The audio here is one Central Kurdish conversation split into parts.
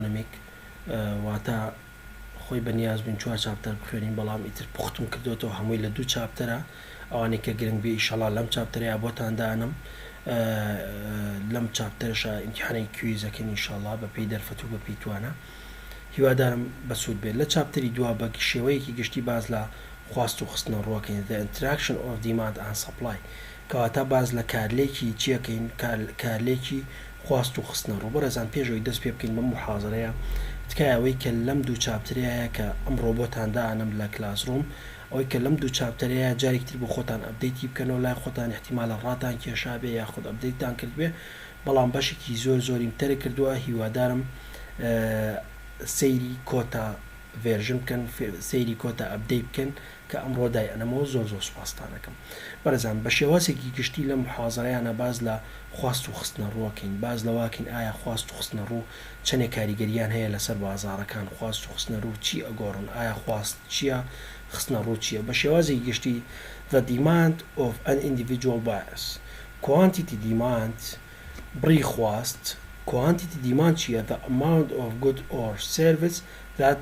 Academic، واتە خۆی بە نیاز بووین چوار چاپتەر بخوێنین بەڵام ئیتر پوختم کردۆتەوە هەمووی لە دوو چاپتەرە ئەوانەی کە گرنگ بێ ئیشەڵا لەم چاپتەرەیا بۆتان دانم لەم چاپتەرشا ئیمتحانی کویزەکەین ئیشەڵا بە پێی دەرفەت و بە پێی توانە هیوادارم بەسوود بێت لە چاپتەری دوا بە شێوەیەکی گشتی باز لە خواست و خستنە ڕووەکەین The Interaction of Demand and Supply کەواتە باس لە کارلێکی چی ئەکەین؟ کارلێکی خواست و خستنەڕوو. بەڕێزان پێش ئەوەی دەست پێ بکەین بەم موحازەرەیە، تکایە ئەوەی کە لەم دوو چاپترەیە هەیە کە ئەمڕۆ بۆتان دائەنەم لە کلاسڕووم، ئەوەی کە لەم دوو چاپتەرەیە هەیە جارێکی تر بۆ خۆتان ئەپدەیتی بکەنەوە، لای خۆتان ئیحتیمالە ڕاتان کێشابێ یاخود ئەپدەیتتان کردبێ، بەڵام بەشێکی زۆر زۆریم تەرک کردووە، هیوادارم سەیری کۆتا ڤێرژن بکەن، سەیری کۆتا ئەپدەیت بکەن. کە ئەمڕۆ دای ئەنەمەوە زۆر زۆر سوپاستان ئەکەم بەڕێزان بە شێوازێکی گشتی لەم محازەرەیانە باس لە خواست و خستنە ڕوو ئەکەین باس لەواکەین ئایا خواست و خستنە ڕوو چەنێ کاریگەریان هەیە لەسەر بازاڕەکان خواست و خستنە ڕوو چی ئەگۆڕن ئایا خواست چیە خستنە ڕوو چیە بە شێوازێکی گشتی The demand of an individual bias Quantity demand بڕی خواست Quantity demand چیە The amount of good or service that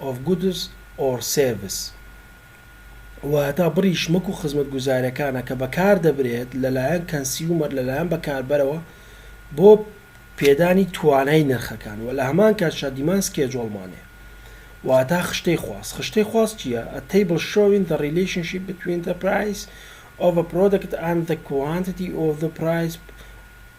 of goods or service، واتا بڕی شمەک و خزمەتگوزاریەکانە کە بەکاردەبرێت لەلایەن کەنسیومەر لەلایەن بەکاربەرەوە بۆ پێدانی توانای نرخەکان وە لەهەمان کاتشا دیماند سکێجۆڵ مانێ واتا خشتەی خواست خشتەی خواست چیە a table showing the relationship between the price of a product and the quantity of the price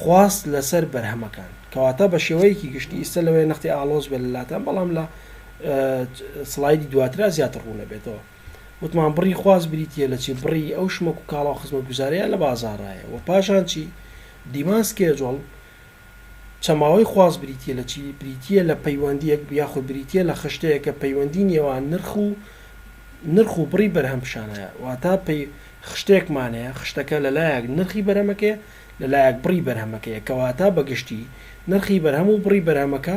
خواست لەسەر بەرهەمەکان کەواتە بە شێوەیەکی گشتی ئیستە لەوەیە نەختی ئاڵۆز بێت لەلاتان بەڵام لە سڵایدی دواترا زیاتر ڕوونەبێتەوە وتمان بڕی خواست بریتە لە چی بڕی ئەو شمەک و کاڵا و خزمەت گوزارەیە لە بازارایە و پاشان چی دیمان سکێجۆڵ چەماوەی خواست بریتە لە چی بریتە لە پەیوەندیەک یاخود بریتە لە خشتەیە کە پەیوەندی نێوان نرخ و نرخ و بڕی بەرهەم پیشانەیە واتە پێی خشتێکمانەیە خشتەکە لەلایەک نرخی بەرەمەکەی لەلایەک بڕی بەرهەمەکەیە کەواتە بەگشتی نرخی بەرهەم و بڕی بەرهەمەکە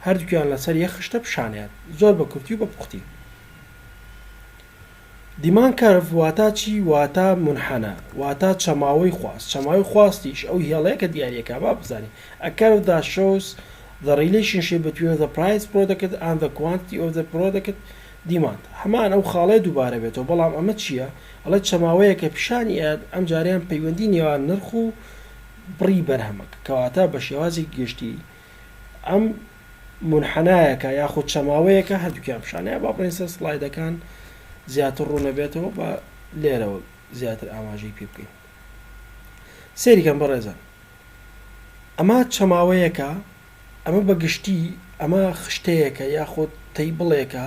هەردوکیان لەسەر یەک خشتە پیشانیان زۆر بە کورتی و بە پوختی. Demand Curve واتا چی واتا مونحەنا واتا چەماوەی خواست چەماوەی خواستیش ئەو هێڵەیە کە دیاریەکا با بزانین A curve that shows the relationship between the price product and the quantity of the product demand هەمان ئەو خاڵەیە دوبارە بێتەوە بەڵام ئەمە چیە ئەڵێت چەماوەیەکە پیشانی ئەیات ئەمجارەیان پەیوەندی نێوان نرخ و بڕی بەرهەمەکە کەواتە بە شێوازی گشتی ئەم منحنایەکە یاخود چەماوەیەکە هەردووکیان پیشانەیە با بڕێن سەر سلایدەکان زیاتر ڕوونەبێتەوە بە لێرەوە زیاتر ئاماژەی پێ بکەین سێریکەم بەڕێزان ئەمە چەماوەیەکە ئەمە بە گشتی ئەمە خشتەیەکە یاخود تەی بڵێکە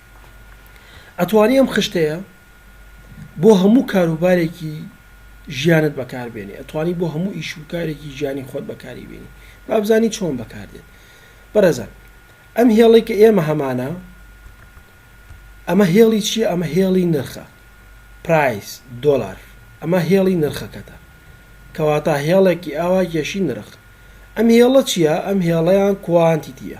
ئەتوانی ئەم خشتەیە بۆ هەموو کاروبارێکی ژیانت بەکاربێنی ئەتوانی بۆ هەموو ئیش و کارێکی گیانی خۆت بەکاری بێنی بابزانی چۆن بەکاردێت بەڕێزان ئەم هێڵی کە ئێمە هەمانە ئەمە هێڵی چیە ئەمە هێڵی نرخە پرایس دۆلار ئەمە هێڵی نرخەکەتە کەواتە هێڵێکی ئاوا گەشی نرخ ئەم هێڵە چییە ئەم هێڵەیان کوانتیتیە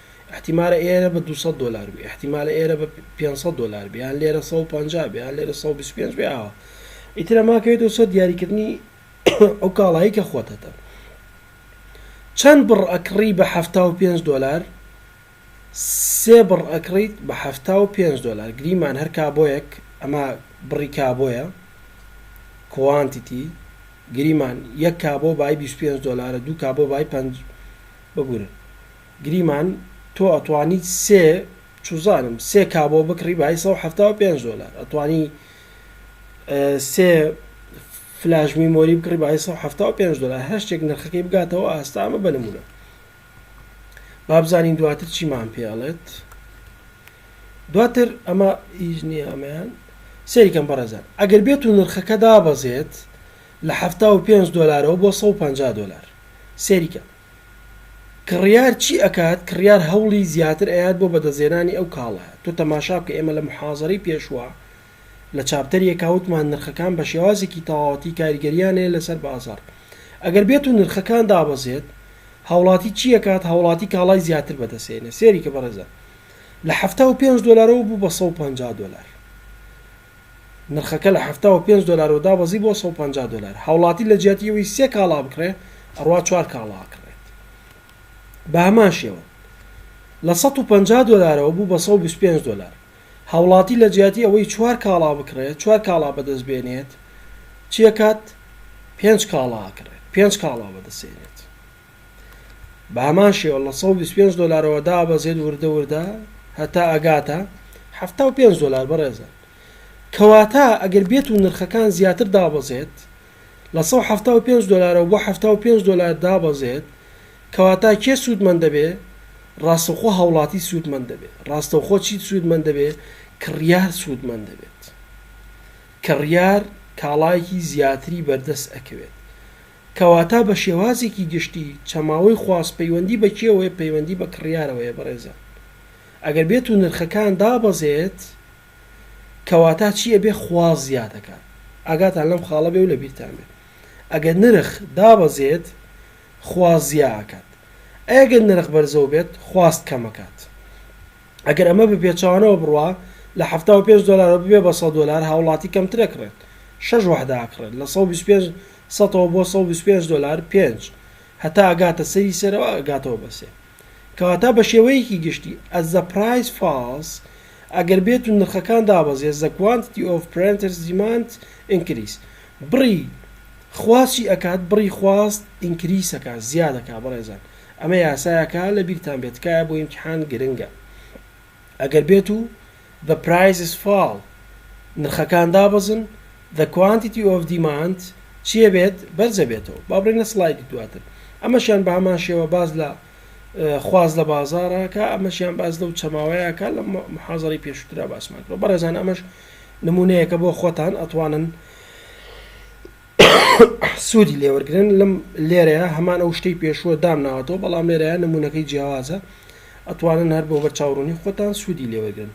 ئیحتیمالە ئێرە بە دوو سەد دۆلار بێ ئیحتیمالە ئێرە بە پێنج سەد دۆلار بێ یان لێرە سەد و پەنجا بێ یان لێرە سەد و بیست و پێنج بێ ئاوا ئیتر ئەمە کەوێتەوە سەر دیاریکردنی ئەو کاڵایی کە خۆت هەتە چەند بڕ ئەکڕی بە حەفتا و پێنج دۆلار سێ بڕ ئەکڕیت بە حەفتا و پێنج دۆلار گریمان هەر کابۆیەک ئەمە بڕی کابۆیە کوانتیتی گریمان یەک کابۆ بای بیست و پێنج دۆلارە دوو کابۆ بای پەنج ببورن گریمان تۆ ئەتوانیت سێ چوزانم سێ کا بۆ بکڕی بای سەد و حەفتا و پێنج دۆلار ئەتوانی سێ فلاش میمۆری بکڕی بای سەد و حەفتا و پێنج دۆلار هەر شتێک نرخەکەی بگاتەوە ئاستا ئەمە بە نمونە بابزانین دواتر چیمان پێ ئەڵێت دواتر ئەمە هیچ نییە ئەمەیان سەریکەم بەڕێزان ئەگەر بێت و نرخەکە دابەزێت لە حەفتا و پێنج دۆلارەوە بۆ سەد و پەنجا دۆلار سەریکە کڕیار چی ئەکات کڕیار هەوڵی زیاتر ئەیات بۆ بەدەستهێنانی ئەو کاڵایە تۆ تەماشا بکە ئێمە لە موحازەرەی پێشوە لە چاپتەر یەکا وتمان نرخەکان بە شێوازێکی تەواوەتی کاریگەریان هەیە لەسەر بازاڕ ئەگەر بێتو نرخەکان دابەزێت هاوڵاتی چی ئەکات هاوڵاتی کاڵای زیاتر بەدەستێنێ سێریکە بەڕێزان لە حەفتا و پێنج دۆلارەوە بوو بە سەد و پەنجا دۆلار نرخەکە لە حەفتا و پێنج دۆلارەوە دابەزی بۆ سەد و پەنجا دۆلار، هاوڵاتی لە جیاتی ئەوەی سێ کاڵا بکڕێ ئەڕوا چوار کاڵا ئەکڕێت بە هەمان شێوە لە سەد و پەنجا دۆلارەوە بوو بە سەد و بیست و پێنج دۆلار، هاوڵاتی لە جیاتی ئەوەی چوار کاڵا بکڕێت چوار کاڵا بەدەست بێنێت چی ئەکات پێنج کاڵا ئەکڕێت پێنج کاڵا بەدەست ئێنێت. بە هەمان شێوە لە سەد و بیست و پێنج دۆلارەوە دابەزێت وردە وردە هەتا ئەگاتە حەفتا و پێنج دۆلار بەڕێزە کەواتە ئەگەر بێت و نرخەکان زیاتر دابەزێت لە سەد و حەفتا و پێنج دۆلارەوە بۆ حەفتا و پێنج دۆلار دابەزێت کەواتە کێ سوودمەند دەبێ ڕاستەوخۆ هاوڵاتی سوودمەند دەبێت ڕاستەوخۆ چیت سوودمەند دەبێت کڕیار سوودمەند دەبێت کڕیار کاڵایەکی زیاتری بەردەست ئەکەوێت کەواتا بە شێوازێکی گشتی چەماوەی خواست پەیوەندی بە کێوەیە پەیوەندی بە کڕیارەوەیە بەڕێزان ئەگەر بێتو نرخەکان دابەزێت کەواتا چی ئەبێت خواست زیاد ئەکات ئاگاتان لەم خاڵە بێ و لەبیرتان بێت ئەگەر نرخ دابەزێت خواست زیا ئەکات ئەگەر نرخ بەرزەو بێت خواست کەم ئەکات ئەگەر ئەمە بە پێچەوانەوە بڕوا لە حەفتا و پێنج دۆلارەوە ببێت بە سەد دۆلار هاوڵاتی کەمتر ئەکڕێت شەش وەحدە ئەکڕێت لە سەد و بیست و پێنج سەتەوە بۆ سەد و بیست و پێنج دۆلار پێنج هەتا ئەگاتە سەری سەرەوە ئەگاتەوە بە سێ کەواتە بە شێوەیەکی گشتی as the price falls ئەگەر بێت و نرخەکان دابەزێت the quantity of printers demand increase بڕی خواست چی ئەکات بڕی خواست increase ئەکا زیاد ئەکا بەڕێزان ئەمە یاسایەکە لەبیرتان بێت تکایە بۆ ئیمتیحان گرنگە. ئەگەر بێت و the prices fall نرخەکان دابەزن the quantity of demand چیە بێت بەرزە بێتەوە با بڕین لە سڵایدی دواتر ئەمەشیان بە هەمان شێوە باز لە خواز لە بازارەکە ئەمەشیان باز لەو چەماوەیەکە لە محازری پێشترا باسمان کرد بەڕێزان ئەمەش نمونەیەکە بۆ خۆتان ئەتوانن سوودی لێوەرگن لەم لێرەیە هەمان ئەو شتەی پێشووە دام ناوەتەوە بەڵام لێرەیە نمونونەکەی جیاوازە ئەتوانن هەر بۆ بەر چاوڕونی خۆتان سوودی لێوەرگن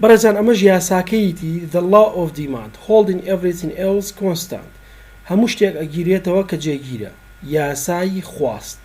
بەڕێزان ئەمەش یاساکەیتی the law of demand holding everything else constant هەموو شتێک ئەگیرێتەوە کە جێگیرە یاسایی خواست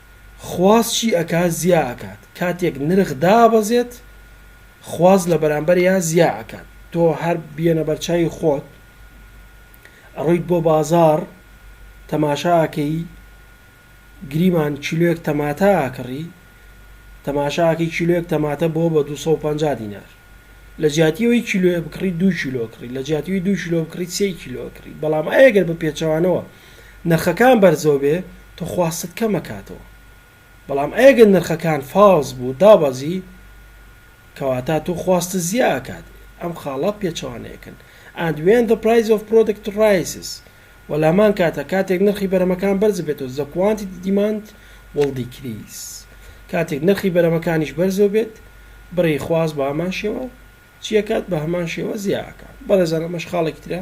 خواست چی ئەکا زیا ئەکات کاتێک نرخ دابەزێت خواست لە بەرامبەریا زیا ئەکات تۆ هەر بیەنە بەرچاوی خۆت ئەڕۆیت بۆ بازاڕ تەماشا ئەکەی گریمان کیلۆیەک تەماتە ئەکڕی تەماشا ئەکەی کیلۆیەک تەماتە بۆ بە دوو سەد و پەنجا دینار لە جیاتی ئەوەی کیلۆیە بکڕی دوو کیلۆ کڕی لە جیاتی دوو کیلۆ بکڕی سێ کیلۆ کڕی بەڵام ئەگەر بە پێچەوانەوە نرخەکان بەرزەوە بێ تۆ خواستت کەم ئەکاتەوە بەڵام ئەگەر نرخەکان فاڵس بوو دابەزی کەواتا تۆ خواستت زیا ئەکات ئەم خاڵە پێچەوانەیەکن and when the price of product rises و لامان کاتە کاتێک نرخی بەرەمەکان بەرز بێتەوە the quantity demand will decrease کاتێک نرخی بەرەمەکانیش بەرزەوە بێت بڕی خواست بە هەمان شێوە چیەکات بە هەمان شێوە زیاکات بەڕێزان ئەمەش خاڵێکی ترە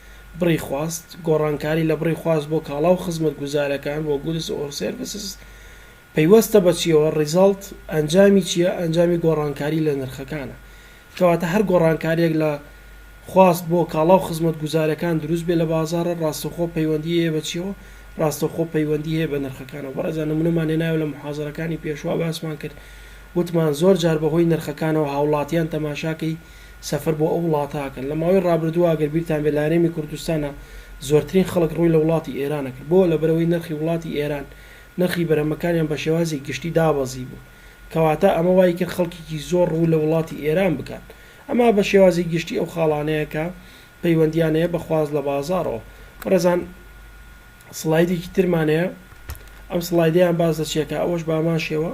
بڕی خواست، گۆڕانکاری لە بڕی خواست بۆ کاڵا و خزمەتگوزارەکان، بۆ Goods or Services، پەیوەستە بە چییەوە، Result، ئەنجامی چییە، ئەنجامی گۆڕانکاری لە نرخەکانە. کەواتە هەر گۆڕانکارییەک لە خواست بۆ کاڵا و خزمەتگوزارەکان دروست بێت لە بازاڕ، ڕاستەوخۆ پەیوەندیی هەیە بە چییەوە، ڕاستەوخۆ پەیوەندیی هەیە بە نرخەکانەوە. بەڕێزان نموونەمان هێنایەوە لە موحازەرەکانی پێشوو، باسمان کرد، وتمان زۆر جار بە هۆی نرخەکانەوە هاوڵاتیان تەماشاکەی، سەفەر بۆ ئەو وڵاتە ئەکەن. لە ماوەی ڕابردووە ئەگەر بیرتان بێت لە هەرێمی کوردستانا زۆرترین خەڵک ڕووی لە وڵاتی ئێرانە کرد. بۆ؟ لەبەرئەوەی نرخی وڵاتی ئێران، نرخی بەرهەمەکانیان بە شێوازی گشتی دابەزیبوو. کەواتە ئەمە وای کرد خەڵکێکی زۆر ڕوو لە وڵاتی ئێران بکات. ئەمە بە شێوازی گشتی ئەو خاڵانەیە کە پەیوەندییان هەیە بە خواست لە بازاڕەوە. بەڕێزان سڵایدێکی ترمان هەیە. ئەم سڵایدەیان باس لە چی ئەکا؟ ئەوەش بە هەمان شێوە.